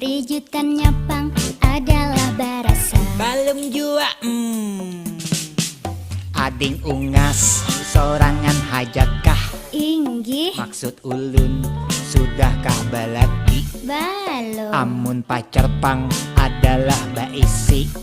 Rijutannya pang adalah barasa. Balum jua mm. Ading Ungas sorangan hajakah? Inggih. Maksud ulun, sudahkah balaki? Balum. Amun pacar pang adalah baisi.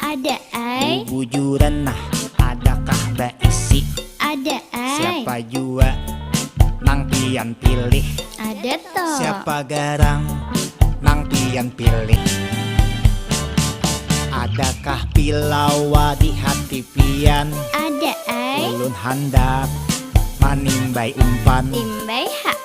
Ada ai. Bubujuran nah, adakah baisi? Ada ai. Siapa jua nang pian pilih? Ada to. Siapa garang nang pian pilih? Adakah pilawa di hati pian? Ada ai. Ulun handak manimbai umpan. Timbai ha.